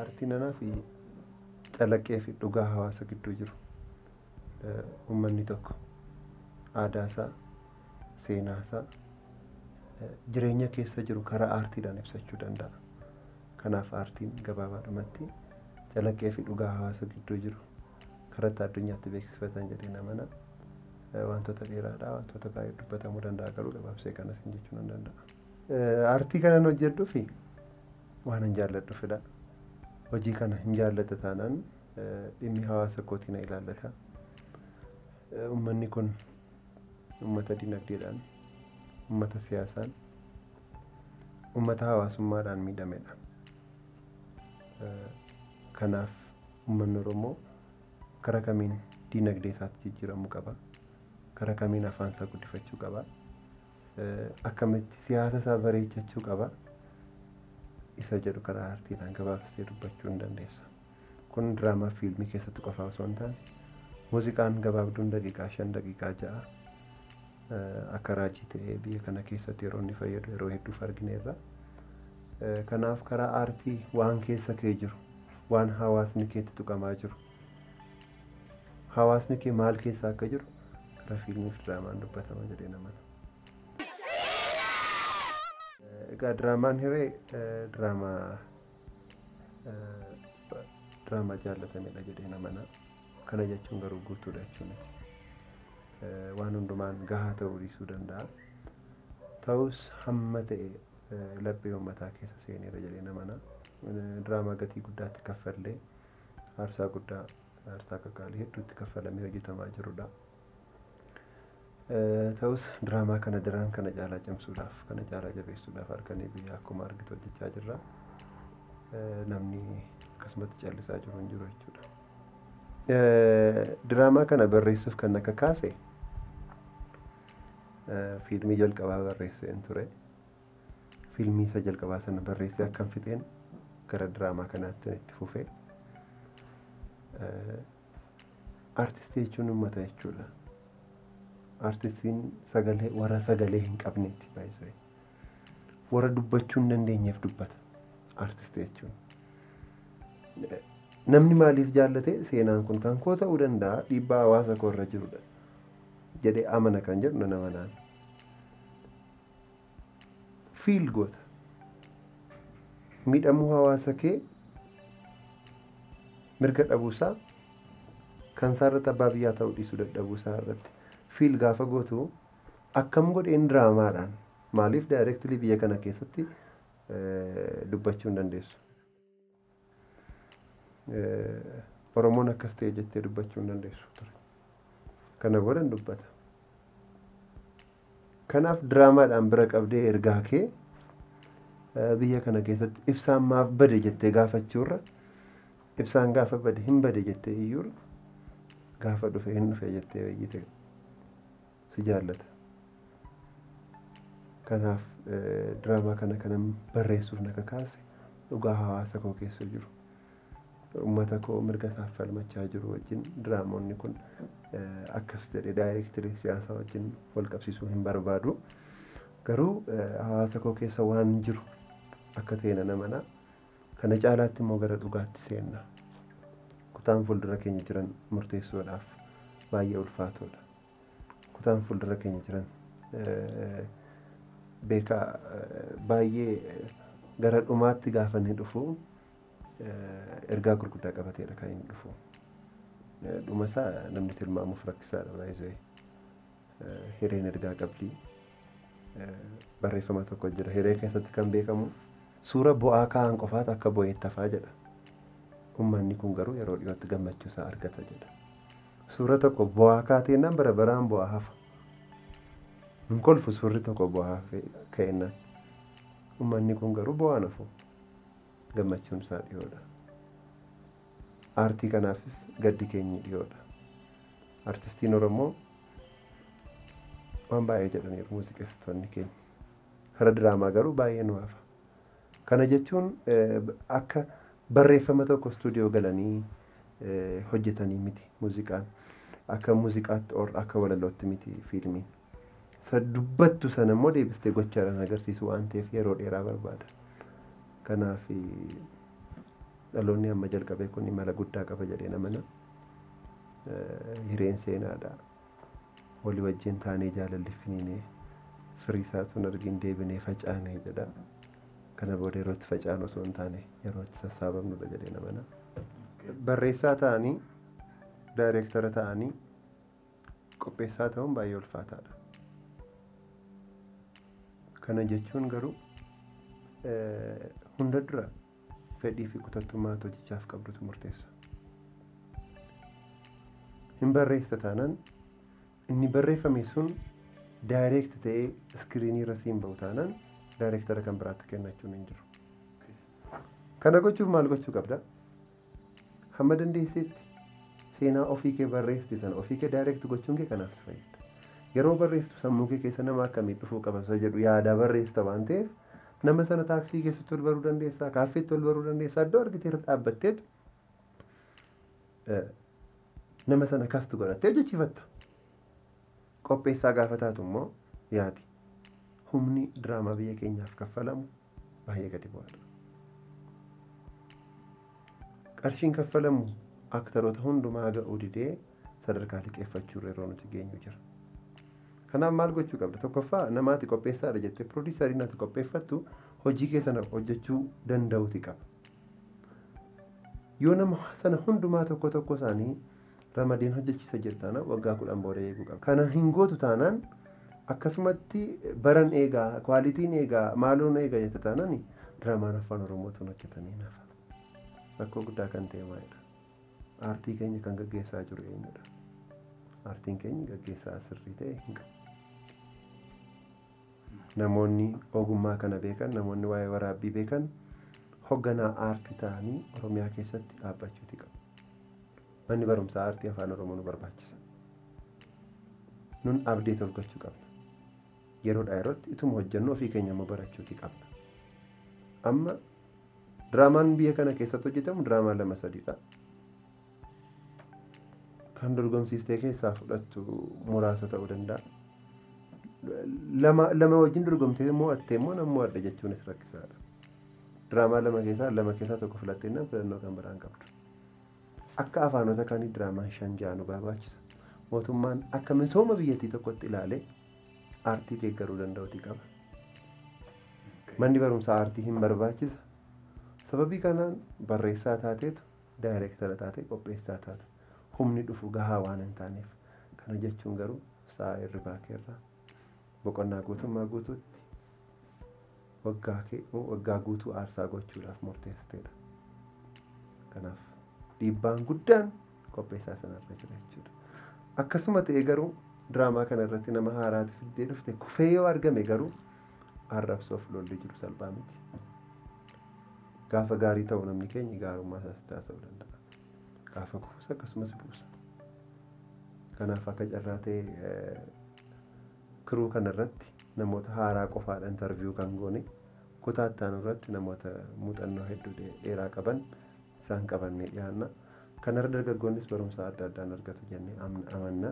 Aartiin anaa fi calaqqee fi dhugaa hawaasa gidduu jiru. Eh, Uummanni tokko aadaa isaa, seenaa isaa, eh, jireenya keessa jiru karaa aartiidhaan ibsachuu danda'a. Kanaaf aartiin gabaabaadhumatti calaqqee fi dhugaa hawaasa gidduu jiru karatti addunyaatti beeksifatan jedheen amana. Wantoota dheeraadha, wantoota baay'ee dubbatamuu danda'a garuu gabaabsee kana siin jechuu nan danda'a. Aartii kanan hojjedhufi waanan jaalladhufidha. Hojii kana hin jaalladha taanaan dhimmi hawaasa kootii na ilaallata. Uummanni kun uummata dinagdeedhaan, uummata siyaasaan, uummata hawaasummaadhaan miidhamedha. Kanaaf Uummanni Oromoo karaa kamiin diinagdee isaatti jijjiiramuu qaba? Karaa kamiin afaan isaa guddifachuu qaba? Akkamitti siyaasa isaa bareechachuu qaba? Isa jedhu karaa artiidhaan gabaabsitee dubbachuu hin dandeessa. Kun diraamaa fiilmii keessatti qofaa osoo hin taane muuziqaan gabaabduun daqiiqaa shan daqiiqaa ja'a akka raajii ta'ee biyya kana keessatti yeroo inni fayyadu yeroo hedduuf argineerra. Kanaaf karaa aartii waan keessa kee jiru waan hawaasni keetti tuqamaa jiru hawaasni kee maal keessa akka jiru karaa fiilmii fi diraamaan dubbatama jedhee namana. Egaa diraamaan hiree diraamaa diraamaa jaallatamedha jedhee namana. Kana jechuun garuu guutuudha jechuu miti. Waan hundumaan gahaa ta'uu dhiisuu danda'a. Ta'us hamma ta'e laphee uummataa keessa seeneera jedheen amana. Diraamaa gatii guddaatti kaffallee aarsaa guddaa aarsaa qaqqaalii hedduutti kaffalamee hojjetamaa jirudha. Ta'us diraamaa kana daran kana caalaa cimsuudhaaf kana caalaa jabeessuudhaaf halkanii guyyaa akkuma argitu hojjechaa jirra. Namni akkasumatti callisaa jiru hin jiru jechuudha. Diraamaa kana barreessuuf kan na kakaase Fiilmii jalqabaa barreesseen ture. Fiilmii isa jalqabaa sana barreessee akkan fixeen gara diraamaa kanaatti itti fufee. Artistii jechuun uummata jechuudha. Artistiin sagalee warra sagalee hin qabneeti baay'isee. Warra dubbachuu hin dandeenyeef dubbata. Artistii jechuun. Namni maaliif jaallate seenaan kun kan koo ta'uu danda'a dhiibbaa hawaasa koo irra jirudha. jedhee amana kan jedhu nan amanaan. Fiil goota. Miidhamuu hawaasa kee mirga dhabuusaa kan isaa irratti abbaa biyyaa ta'uu dhiisuu dadhabuusaa irratti fiil gaafa gootu akkam godheen diraamaadhaan maaliif daayireektilii biyya kana keessatti dubbachuu hin dandeessu. Oromoon akkas ta'e jettee dubbachuu hin dandeessu ture. Kana boodan dubbata. Kanaaf diraamaadhaan bira qabdee ergaa kee biyya kana keessatti ibsaan maaf bade jettee gaafachuurra ibsaan gaafa bade hin bade jettee iyyuurra gaafa dhufe hin dhufe jettee iyyite si jaallata. Kanaaf diraamaa kana kanan barreessuuf na kakaase dhugaa hawaasa koo keessa jiru. Uummata koo mirga isaaf falmachaa jiru wajjin diraamoonni kun akkas jedhee daayireektirii siyaasaa wajjin wal qabsiisuu hin barbaadu. Garuu hawaasa koo keessa waan jiru akka ta'e nan amana. Kana caalaatti immoo gara dhugaatti seenna. Kutaan fuuldura keenya jiran murteessuudhaaf baay'ee ulfaatoodha. kutaan fuuldura keenya jiran beekaa baay'ee gara dhumaatti gaafa inni dhufu ergaa gurguddaa qabateedha kan inni dhufu. Dhuma isaa namni tilmaamuuf rakkisaadha baay'ee. Hireen ergaa qabdi. Barreeffama tokko jira. Hiree keessatti kan beekamu suura bu'aa kaa'an qofaatu akka bu'eetti hafaa jedha. Uummanni kun garuu yeroo dhiyootti gammachuu isaa argata jedha. Suura tokko bo'aa kaateennaan bara baraan bo'aa hafa. Hin kolfu suurri tokko bo'aa ka'eennaan. Ummanni kun garuu bo'aan hafu. Gammachuun isaa dhiyoodha. Aartii kanaafis gaddi keenyi dhiyoodha. Artistiin Oromoo waan baay'ee jedhaniiru muuziqeessitoonni keenya. Kara diraamaa garuu baay'ee nu hafa. Kana jechuun akka barreeffama tokko studio galanii hojjetanii miti muuziqaan. Akka muuziqaatti or akka walalootti miti fiilmiin. Isa dubbattu sana immoo deebistee gochaadhaan agarsiisuu waan ta'eef yeroo dheeraa barbaada. Kanaaf dhaloonni amma jalqabee kun imala guddaa qaba jedheen amana. Hireen seenaadha. Walii wajjin taanee jaalalli finiinee firii isaa tun argin deebinee facaanee jedha. Kana booda yeroo itti facaanu osoo hin taane yeroo itti sassaabamnudha jedhee namana. Barreessaa ta'anii daayireektara ta'anii qopheessaa ta'uun baay'ee ulfaataadha. Kana jechuun garuu hunda dura Fedhii fi kutattummaa ati hojichaaf qabdutu murteessa. Hin barreessita taanaan inni barreeffame sun daayireekti ta'ee iskiriinii irra siin ba'u taanaan daayireektara kan biraatti kennachuun hin jiru. Kana gochuuf maal gochuu qabda? Hamma dandeesseetti seenaa ofii kee barreessite sana ofii kee daayireekti gochuun kee kanaaf si fayyada. Yeroo barreessitu sammuu kee keessa nama akkamii dhufuu qaba isa jedhu yaadaa barreessita waan ta'eef Nama sana taaksii keessatti ol baruu dandeessaa, kaaffeetti ol baruu dandeessaa, iddoo argitee irra dhaabbatteetu nama sana kastu godhattee hojjechiifatta. Qopheessaa gaafa taatu immoo yaadi. Humni diraamaa biyya keenyaaf kaffalamu baay'ee gadi bu'aadha. Qarshiin kaffalamu aktaroota hundumaa ga'uu didee sadarkaa liqeeffachuu irra yeroo nuti geenyu jira. Kanaaf maal gochuu qabda? Tokkoffaa namaati qopheessaadha jettee piroodiisariin ati qopheeffattu hojii kee sana hojjechuu danda'uuti qaba. Yoo nama sana hundumaa tokko tokko isaanii ramadeen hojjechiisa jedhu taanaan waggaa kudhan booda eeguu qaba. Kana hin gootu taanaan akkasumatti baran eegaa, kwaalitiin eegaa, maaloon eegaa jette taanaan diraamaan afaan Oromootuun hojjetamee nafa. Rakkoo guddaa kan ta'e maalidha? Aartii keenya kan gaggeessaa jiru eenyudha? Aartiin keenya gaggeessaa sirrii ta'e hin qabu. Namoonni ogummaa kana beekan, namoonni waa'ee waraabbii beekan hogganaa aartii ta'anii Oromiyaa keessatti dhaabbachuuti qabu. Manni barumsaa aartii afaan Oromoo nu barbaachisa. Nun abdeet of gochuu qabna. Yeroodhaa yerootti ituma hojjennu ofii keenya immoo barachuuti qabna. Amma Diraamaan biyya kana keessatti hojjetamu diraamaa lama sadiidha. Kan dorgomsiistee keessaa fudhattu muraasa ta'uu danda'a. Lama lama wajjin dorgomtee mo'attee immoo nan mo'adha jechuunis rakkisaadha. Diraamaa lama keessaa lama keessaa tokko filattee nan filannoo kan biraan qabdu. Akka afaanota kaanii diraamaan shan ja'a nu barbaachisa. Mootummaan akka misooma biyyattii tokkotti ilaalee aartii deeggaruu danda'uti qaba. Manni barumsaa aartii hin barbaachisa. Sababii kanaan barreessaa taateetu daayireektara taatee qopheessaa taata. Humni dhufu gahaa waan hin taaneef. Kana jechuun garuu sa'a hirribaa keerraa boqonnaa guutummaa guutuutti waggaa kee moo waggaa guutuu aarsaa gochuudhaaf murteessiteedha. Kanaaf dhiibbaan guddaan qopheessaa sanarra jira jechuudha. Akkasuma ta'e garuu diraamaa kana irratti nama haaraati fiddee dhufte kufee yoo argame garuu arrabsoof lolli jiru salphaa miti. Gaafa gaarii ta'u namni keenya gaarummaa isaas itti haasa'uu danda'a. Gaafa kufus akkasumas buusa. Kanaaf akka carraa ta'e Crew kana irratti namoota haaraa qofaadha interview kan goone. Kutaa itti aanu irratti namoota muuxannoo hedduu dheeraa qaban isaan qabannee dhiyaanna. Kanarra dargaggoonnis barumsa adda addaan argatu jennee amanna.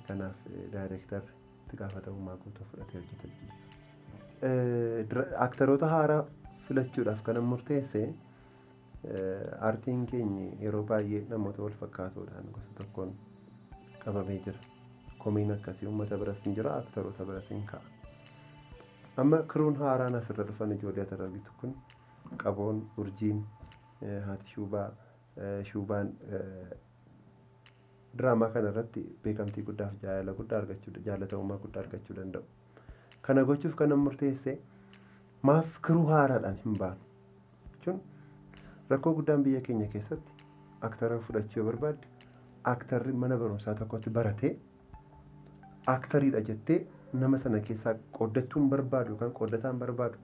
Kanaaf daayireektarri itti gaafatamummaa guutuu fudhatee hojjeta jechuudha. Aktaroota haaraa filachuudhaaf kanan murteesse Aartiin keenyi yeroo baay'ee namoota wal fakkaatoodhaan gosa tokkoon qabamee jira. Komiin akkasii uummata biras hin jira, aktaroota biras hin ka'a. Amma kiruun haaraan asirra dhufan ijoollee ati argitu kun qaboon, urjiin, eh, haati shuubaa, eh, shuubaan eh, diraamaa kana irratti beekamtii guddaaf jaalala guddaa argachuu jaallatamummaa guddaa argachuu danda'u. Kana gochuuf kanan murteesse maaf kiruu haaraadhaan hin baanu jechuun rakkoo guddaan biyya keenya keessatti aktara fudhachuu yoo barbaadde aktarri mana barumsaa tokkotti baratee aktariidha jettee nama sana keessaa qooddachuun barbaadu yookaan qooddataan barbaadu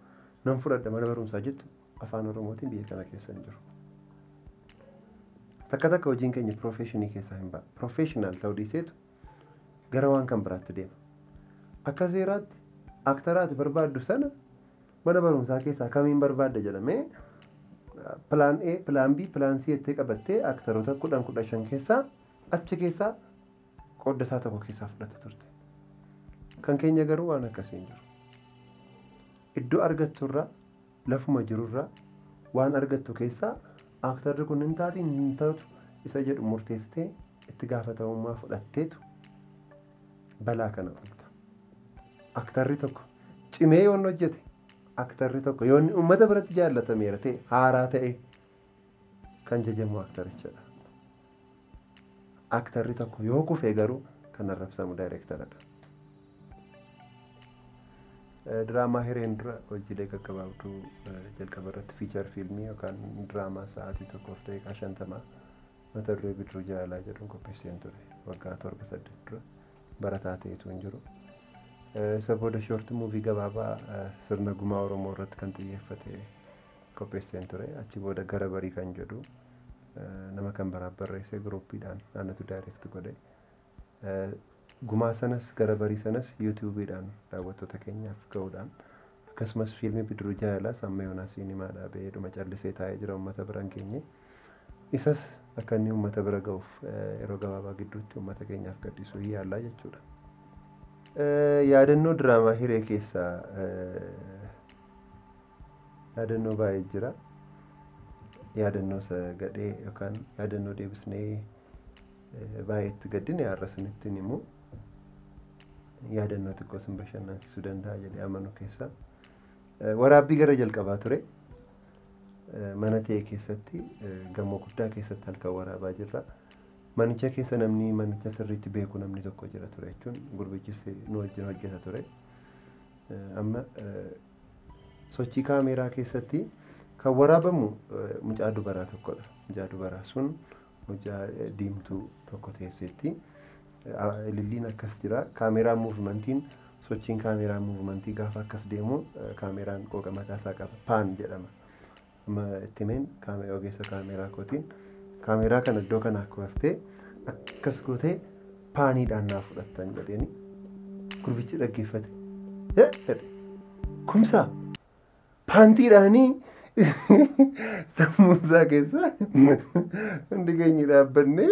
nan fudhadha mana barumsaa jettu afaan oromootiin biyya kana keessa hin jiru. Takka takka hojiin keenya piroofeeshinii keessaa hin ba'a. Piroofeeshinaal ta'uu dhiiseetu gara waan kan biraatti deema. Akka seeraatti aktara ati barbaaddu sana mana barumsaa keessaa kamiin barbaadda jedhamee pilaan A, pilaan B, pilaan C jettee qabattee aktaroota kudhan kudha shan keessaa achi keessaa qooddataa tokko keessaa fudhatta turte. Kan keenya garuu waan akkasii hin jiru. Iddoo argatturraa lafuma jirurraa waan argattu keessaa aaktarri kun hin taati hin taatu isa jedhu murteessitee itti gaafatamummaa fudhatteetu balaa kana oolta. Aaktarri tokko cimee yoon hojjete aaktarri tokko yoonni uummata biratti jaallatameera ta'e haaraa ta'e kan jajamu aaktarichadha. Aktarri tokko yoo kufe garuu kan arrabsamu daayireektaradha. Diraamaa hireen dura hojiilee gaggabaabduu jalqaba irratti fiichar fiilmii yookaan diraamaa sa'aatii tokkoof daqiiqaa shantamaa mata duree bidiruu jaalalaa jedhuun qopheesseen ture waggaa torba saddeet dura barataa ta'etu hin jiru. Isa booda shoorti muuvii gabaabaa sirna gumaa Oromoo irratti kan xiyyeeffate qopheesseen ture. Achi booda gara barii kan jedhu nama kan biraaf barreessee giruuppiidhaan anatu direct godhe. Gumaa sanas gara barii sanas yuutuubiidhaan daawwattoota keenyaaf ga'uudhaan akkasumas fiilmii bidiruu jaalalaas amma yoonaa siinimaadhaa ba'ee dhuma callisee taa'ee jira uummata biraan geenye. Isas akka inni uummata bira ga'uuf yeroo gabaabaa gidduutti uummata keenyaaf gadhiisuu hin yaallaa jechuudha. Yaadannoo diraamaa hiree keessaa yaadannoo baay'ee jira. Yaadannoo isa gadhee yookaan yaadannoo deebisnee eh, baay'ee itti gaddine har'a isinitti hin himu. Yaadannoo xiqqoo isin bashannansiisuu danda'a jedhee amanu keessaa. Eh, Waraabbii gara jalqabaa ture. Eh, Mana ta'e keessatti eh, gamoo guddaa keessatti halkan waraabaa jirra. Manicha keessa namni manicha sirriitti beeku namni tokko jira ture jechuun gurbichis nu wajjin hojjeta ture. Eh, Amma eh, Sochii kaameeraa keessatti kan waraabamu mucaa dubaraa tokkodha. Mucaa dubaraa sun mucaa diimtuu tokko teesseetti. Ililliin akkas jira. Kaameeraan muuvimantiin sochiin kaameeraa muuvimantii gaafa akkas deemu kaameeraan qooqa mataa isaa qaba. Paan jedhama. Amma itti himeen kaame- ogeessa kaameeraa kootiin kaameeraa kana iddoo kanaa kaastee akkas gootee paaniidhaan naa fudhattan jedheeni gurbichi dhaggeeffate. "Eh!" jedhe. Kumsaa paantiidhaanii sammuusaa keessa hundi keenya dhaabbannee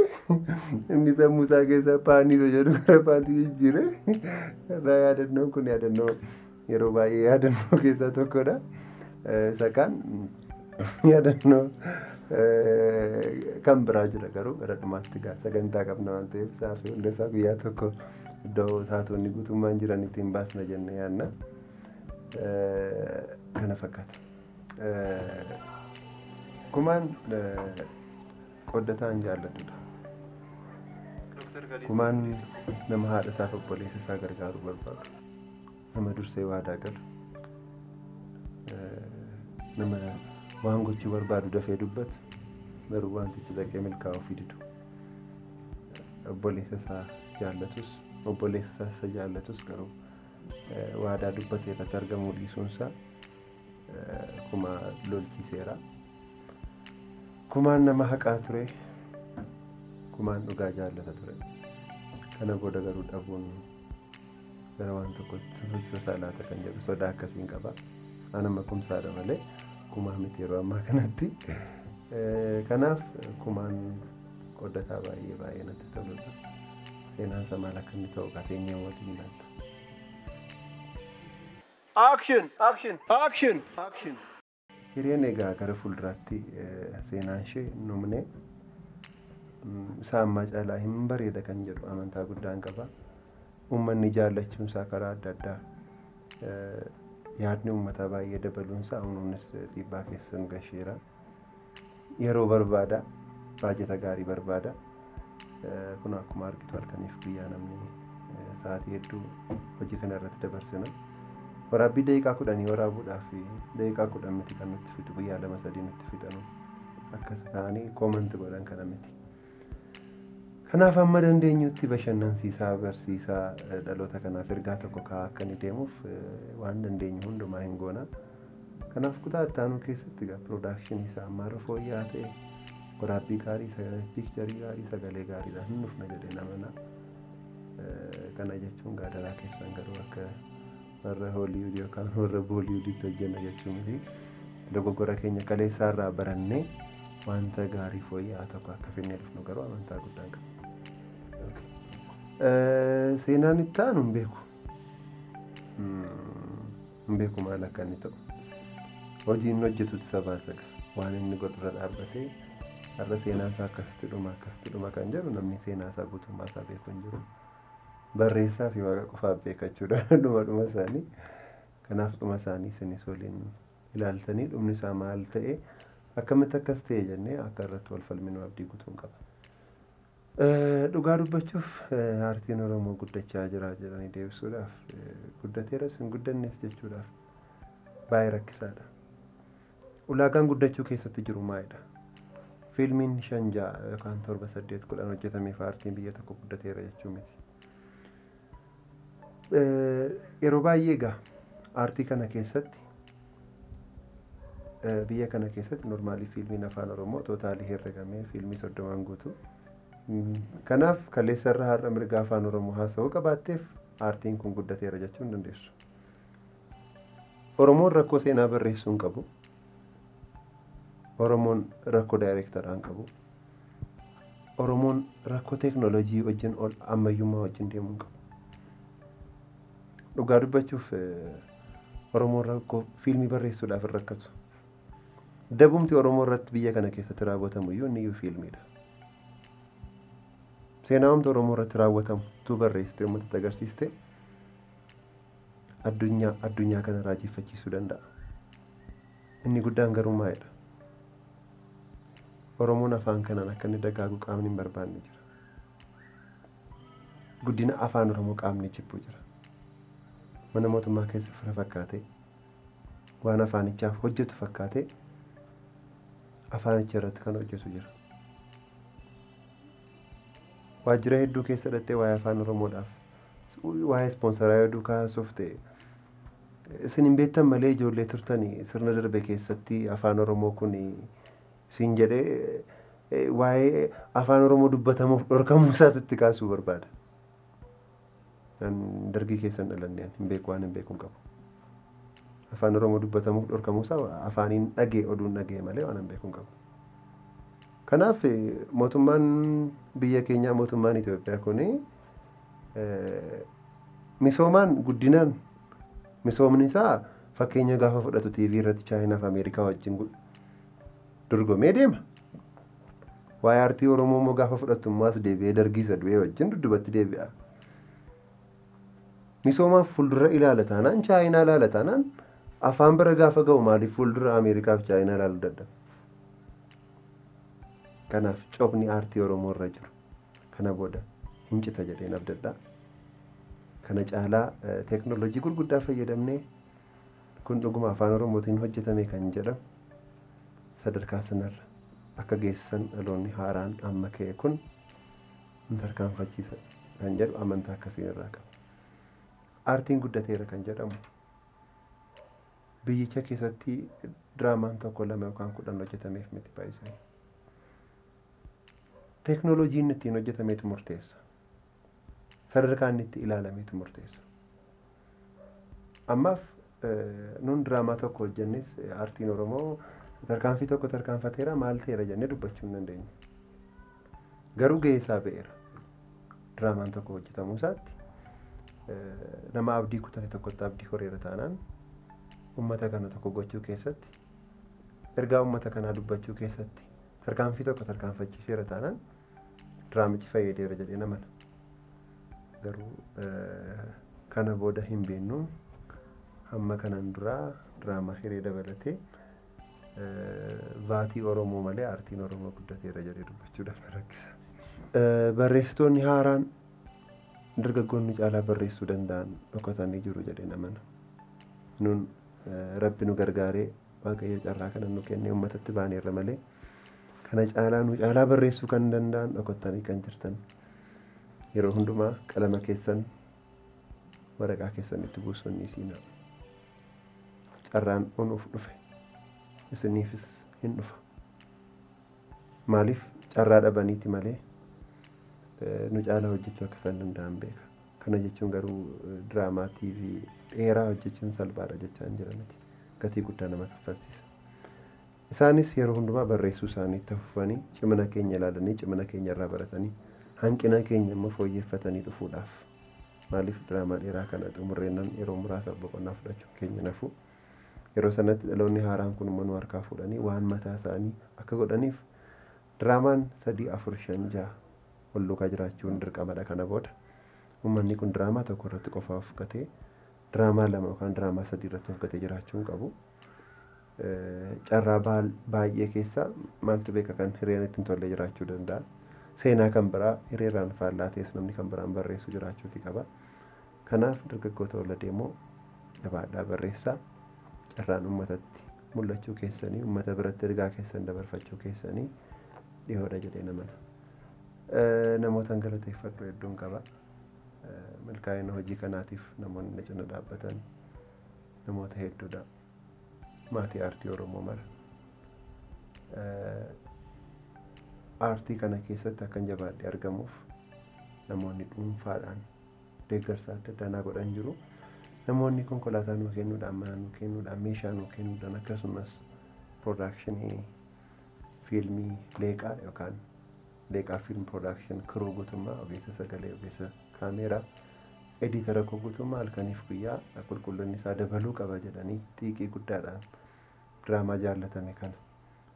inni sammuusaa keessa paanii isa jedhu gara paantii jijjiire. Irraa yaadannoon kun yaadannoo yeroo baay'ee yaadannoo keessaa tokkodha. Eh, Isa kaan yaadannoo eh, kan biraa jira garuu gara dhumaatti gaa sagantaa qabna waan ta'eef isaa fi hunda isaa guyyaa tokko iddoo taatonni guutummaan jiran ittiin baasna jenne yaadna. Eh, Kana fakkaata. Eh, Kumaan eh, qooddataan jaallatudha. Kumaan nama haadha isaaf obboleessa isaa gargaaruu barbaadu. Nama dursee waadaa galu. Nama waan gochuu barbaadu dafee dubbatu garuu wantichi dhaqee milkaa'uu fi didu. Obboleessa isaa jaallatus obboleessa isaa isa jaallatus garuu waadaa dubbatee irratti argamuu dhiisuunsaa Kuma lolchiseera. Kumaan nama haqaa ture. Kumaan dhugaa jaallata ture. Kana booda garuu dhabuun gara waan tokkotti sosochoosaa laata kan jedhu sodaa akkasiin qaba. An amma kumsaadha malee kumaa miti yeroo ammaa kanatti. Eh, Kanaaf kumaan qoddataa baay'ee baay'ee natti toludha. Seenaan isaa maal akka inni ta'u kaa teenyee mootii ilaalla. Action! Action! Action! Action! Hireen egaa gara fuulduraatti seenaanshee hin dhumne. Isaa ammaa caalaa hin bareeda kan jedhu amantaa guddaan qaba. Uummanni jaallachuunsaa karaa adda addaa yaadni uummataa baay'ee dabaluunsaa unuunis dhiibbaa keessa nu gasheera. yeroo barbaada baajata gaarii barbaada kun akkuma argitu halkaniif guyyaa namni sa'aatii hedduu hojii kana irratti dabarsina waraabbii daqiiqaa kudhanii waraabuudhaaf daqiiqaa kudhan miti kan nutti fixu guyyaa lama sadii nutti fixanu akkas ta'anii koomanti godhan kana miti. Kanaaf amma dandeenyutti bashannansiisaa barsiisaa eh, dhaloota kanaaf ergaa tokko kaa'aa akka inni deemuuf eh, waan dandeenyu hundumaa hin goona. Kanaaf kutaa itti aanuu keessatti egaa piroodakshinii isaa ammaarra fooyya'aa ta'e waraabbii gaarii sagalee piikcharii gaarii sagalee gaariidhaan hin dhufna jedhee namana. Eh, Kana jechuun gaadaraa keessan garuu akka warra hooliwuud yookaan warra booliwuuditti hojjenna jechuu miti dogoggora keenya kaleessaa irraa barannee wanta gaarii fooyya'aa tokko akka finnee dhufnu garuu amantaa guddaan qaba. Seenaan itti aanu hin beeku. Hin beeku maal akka inni ta'u. Hojii inni hojjetutu isa baasa gaa. Waan inni godhurra dhaabbatee har'a seenaan isaa akkasitti dhuma akkasitti dhuma kan jedhu namni seenaa isaa guutummaa isaa beeku hin jiru. Barreessaa fi Waaqa qofaaf beeka jechuudha dhuma dhuma isaanii. Kanaaf dhuma isaanii isinis waliin ilaaltanii dhumni isaa maal ta'e akkamitti akkas ta'e jennee akka irratti wal falminu abdii gutuun qaba. Eh, Dhugaa dubbachuuf eh, aartiin Oromoo guddachaa jira jedhanii deebisuudhaaf eh, guddateeras hin guddannes jechuudhaaf baay'ee rakkisaadha. Ulaagaan guddachuu keessatti jiru maalidha? Fiilmiin 5, 6 yookaan 7, 8, 10 hojjetameef aartiin biyya tokko guddateera jechuu miti. Yeroo baay'ee egaa aartii kana keessatti biyya kana keessatti normaalii fiilmiin afaan oromoo tootaalii herregamee fiilmii soddomaan guutuu. Kanaaf kaleessa irra har'a mirga afaan oromoo haasa'uu qabaatteef aartiin kun guddateera jechuun dandeessu. Oromoon rakkoo seenaa barreessuu hin qabu. Oromoon rakkoo daayireektaraa hin qabu. Oromoon rakkoo teeknooloojii wajjin ol ammayyummaa wajjin deemuu hin qabu. Dhugaa dubbachuuf Oromoon rakkoo fiilmii barreessuudhaaf hin rakkatu. Dabumti Oromoo irratti biyya kana keessatti raawwatamu iyyuu inni iyyuu fiilmiidha. Seenaa humna Oromoo irratti raawwatamu utuu barreessitee uummatatti agarsiiste addunyaa addunyaa kana raajeffachiisuu danda'a. Inni guddaan garuu maalidha? Oromoon afaan kanaan akka inni dagaagu qaamni hin barbaanne jira. Guddina afaan Oromoo qaamni jibbu jira. Mana mootummaa keessa fira fakkaatee waan afaanichaaf hojjetu fakkaatee afaanicha irratti kan hojjetu jira. Waajjira hedduu keessa dhaqxee waa'ee afaan Oromoodhaaf Uuy waa'ee ispoonsaraa yoo duukaa haasofte isin hin beektan malee ijoollee turtani sirna darbe keessatti afaan oromoo kun siin jedhee eh, waa'ee afaan oromoo dubbatamuuf dhorkamuu isaatu itti kaasuu barbaada. An dargii keessan dhalanne an hin beeku waan hin beeku hin qabu. Afaan oromoo dubbatamuuf dhorkamuu isaa afaaniin dhagee oduun dhagee malee waan hin beeku hin qabu. Kanaaf eh, mootummaan biyya keenyaa mootummaan Itoophiyaa kuni Misoomaan guddinaan misoomni isaa fakkeenya gaafa fudhatu TV irratti Chaayinaa fi Ameerikaa wajjin dorgomee deema. Waa'ee aartii Oromoo immoo gaafa fudhattu immoo as deebi'ee dargii isa du'ee wajjin dudubatti deebi'a. Misoomaaf fuuldura ilaala taanaan Chaayinaa ilaala taanaan afaan bira gaafa ga'u maaliif fuuldura Ameerikaa fi Chaayinaa ilaaluu dadhabe? Kanaaf cophni aartii Oromoo irra jiru. Kana booda hin cita jedheen abdadha. Kana caalaa teeknooloojii gurguddaa fayyadamnee kun dhuguma afaan Oromootiin hojjetame kan jedhamu sadarkaa sanarra akka geessisan dhaloonni haaraan amma ka'e kun nu tarkaanfachiisa kan jedhu amantaa akkasiin irraa qaba. Aartiin guddateera kan jedhamu biyyicha keessatti diraamaan tokko lama yookaan kudhan hojjetameef miti baay'isanii. Teeknooloojii inni ittiin hojjetametu murteessa. Sadarkaa inni itti ilaalametu murteessa. Ammaaf nuun diraamaa tokko hojjennis aartiin Oromoo tarkaanfii tokko tarkaanfateera maal ta'eera jennee dubbachuu hin dandeenyu. Garuu gahee isaa ba'eera. Diraamaan tokko hojjetamuu isaatti nama abdii kutate tokkotti abdii horeera taanaan uummata kana tokko gochuu keessatti ergaa uummata kanaa dubbachuu keessatti Tarkaanfii tokko tarkaanfachiiseera taanaan diraamichi fayyadeera jedhee nama garuu kana booda hin beennu hamma kanaan duraa diraamaa hiree dabalatee vaatii Oromoo malee aartiin Oromoo guddateera jedhee dubbachuudhaaf na rakkisa. Barreessitoonni haaraan dargaggoonni caalaa barreessuu danda'an dhokatanii jiru jedhee namana. Nun rabbi nu gargaaree Waaqayyo carraa kana nu kennee uummatatti baaneerra malee kana caalaa nu caalaa barreessuu kan danda'an dhokottanii kan jirtan yeroo hundumaa qalama keessan waraqaa keessan itti buusuun ni siinaa. Carraan unuuf dhufe isiniifis hin dhufa. Maaliif carraa dhabaniiti malee nu caalaa hojjechuu akka isaan danda'an beeka. Kana jechuun garuu diraamaa TV dheeraa hojjechuun salphaadha jechaa hin jira miti. Gatii guddaa nama kaffalsiisa. Isaanis yeroo hundumaa barreessuu isaanii itti fufanii cimina keenya ilaalanii cimina keenya irraa baratanii hanqina keenya immoo fooyyeffatanii dhufuudhaaf. Maaliif diraamaa dheeraa kana xumurreennan yeroo muraasaaf boqonnaa fudhachuun keenya nafuu. Yeroo sanatti dhaloonni haaraan kun immoo nu harkaa fuudhanii waan mataa isaanii akka godhaniif Diraamaan 3, 4, 5, 6 wal duukaa jiraachuun dirqamadha kana booda. Ummanni kun diraamaa tokko irratti qofaa of gatee diraamaa lama yookaan diraamaa sadii irratti of gatee jiraachuu hin qabu. Carraa baay'ee keessa maaltu beeka kan hireen itti hin tolle jiraachuu danda'a. Seenaa kan biraa hireerraan faallaa ta'es namni kan biraan barreessu jiraachuuti qaba. Kanaaf dargaggoota olla deemoo jabaadhaa barreessaa carraan ummatatti mul'achuu keessanii ummata biratti ergaa keessan dabarfachuu keessanii dhihoodha jedheen amana. Namootan galateeffadhu hedduun qaba. Milkaa'ina hojii kanaatiif namoonni na cina dhaabbatan namoota hedduudha. Maatii aartii Oromoo mara. Aartii kana keessatti akkan jabaadhe argamuuf namoonni dhuunfaadhaan deeggarsa adda addaa naa godhan jiru. Namoonni konkolaataa nuu kennuudhaan, mana nuu kennuudhaan, meeshaa nuu kennuudhaan akkasumas piroodakshinii fiilmii Leeqaa yookaan Leeqaa Fiilm Piroodakshin kiruu guutummaa ogeessa sagalee, ogeessa kaameeraa, ediitara koo guutummaa halkaniif guyyaa qulqullinni isaa dabaluu qaba jedhanii xiiqii guddaadhaan diraamaa jaallatame kana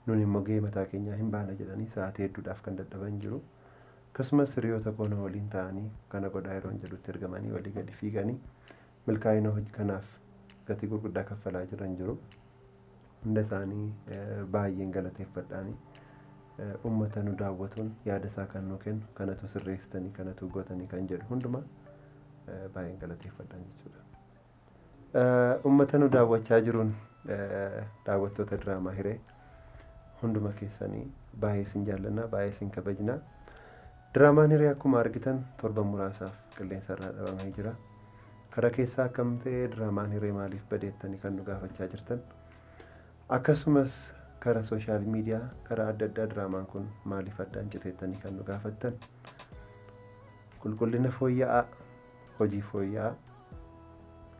Nuni immoo gahee mataa keenyaa hin baana jedhanii sa'aatii hedduudhaaf kan dadhaban jiru. Akkasumas hiriyoota koo na waliin taa'anii kana godhaa yeroon jedhutti ergamanii olii gadi fiiganii milkaa'ina hojii kanaaf gatii gurguddaa kaffalaa jiran jiru. Hunda isaanii baay'een galateeffadhaani. Uummata nu daawwatuun yaada isaa kan nuu kennu kanatu sirreessitanii kanatu gootanii kan jedhu hundumaa baay'een galateeffadhaan jechuudha. Uummata nu daawwachaa jiruun daawwattoota diraamaa hiree hunduma keessanii baay'ee isin jaallannaa baay'ee isin kabajnaa. Diraamaan hiree akkuma argitan torban muraasaaf qilleensa irraa dhabamee jira. Kara keessaa akkam ta'ee diraamaan hiree maaliif badeettanii kan nu gaafachaa jirtan. Akkasumas kara sooshaal miidiyaa kara adda addaa diraamaan kun maaliif addaan citeettanii kan nu gaafattan. Qulqullina fooyya'aa Hojii fooyya'aa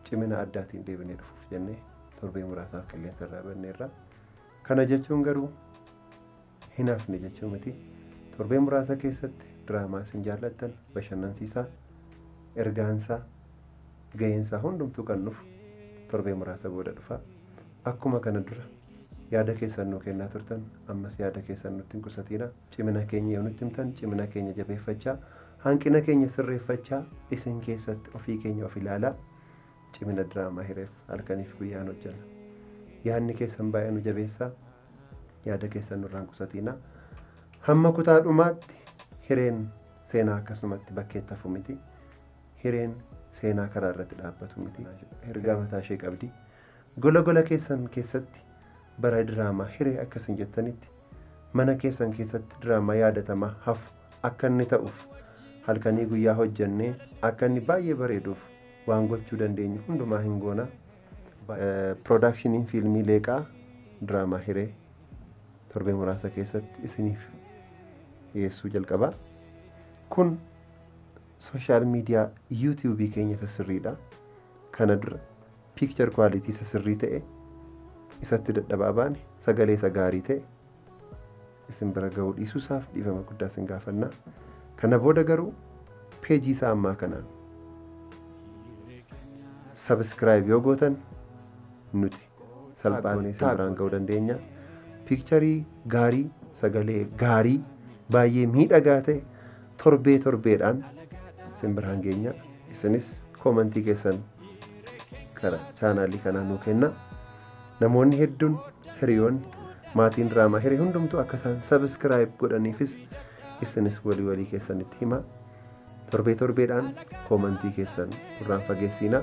cimina addaatiin deebinee dhufuuf jennee torbee muraasaaf qilleensa irraa banneerra. Kana jechuun garuu hin hafne jechuu miti. Torbee muraasa keessatti diraamaa isin jaallattan bashannansiisaa, ergaansaa, ga'eensaa hundumtuu kan dhufu torbee muraasa booda dhufa. Akkuma kana dura yaada keessan nuu kennaa turtan ammas yaada keessan nutti hin qusatiina. Cimina keenya yoo nutti himtan cimina keenya jabeeffachaa Hanqina keenya sirreeffachaa isin keessatti ofii keenya of ilaalaa cimina diraamaa hireef halkaniif guyyaan hojjanna. Yaadni keessan baay'ee nu jabeessaa yaada keessan nurraan qusatiinaa. Hamma kutaa dhumaatti hireen seenaa akkasumatti bakkeetti hafu miti. Hireen seenaa karaa irratti dhaabbatu miti. Ergaa mataa ishee qabdi. Gola gola keessan keessatti bara diraamaa hiree akka isin jettanitti mana keessan keessatti diraamaa yaadatamaa hafu akka inni ta'uuf halkanii guyyaa hojjannee akka inni baay'ee bareeduuf waan gochuu dandeenyu hundumaa hin goona. Piroodaakshiniin fiilmii Leeqaa diraamaa hiree torbee muraasa keessatti isiniif dhiyeessuu jalqaba. Kun sooshaal miidiyaa yuutuubii keenya isa sirriidha. Kana dura picture quality isa sirrii ta'e isatti dadhabaa baane sagalee isa gaarii ta'e isin bira ga'uu dhiisuu isaaf dhiifama guddaa isin gaafannaa kana booda garuu peejii isaa ammaa kanaan sabiskiraayib yoo gootan nuti salphaanee isin biraan ga'uu dandeenya piikcharii gaarii sagalee gaarii baay'ee miidhagaa ta'e torbee torbeedhaan isin biraan geenya isinis koomantii keessan kara chaanaalii kanaa nuu kenna namoonni hedduun hiriyoonni maatiin diraamaa hiree hundumtuu akka isaan sabiskiraayib godhaniifis isinis walii walii keessanitti hima torbee torbeedhaan koomantii keessan duraan fageessiina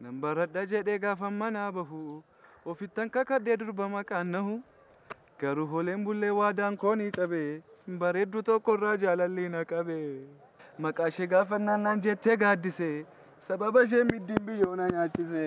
Nan baradha jedhee gaafan manaa bahu ofittan kakadhee durba maqaan nahu Garuu hooleen bullee waadaan koo ni cabe. Bareeddu tokko irraa jaalalli na qabe. Maqaa ishee gaafannaan naan jettee gaaddise. Sababa ishee middiin biyyoo na nyaachise.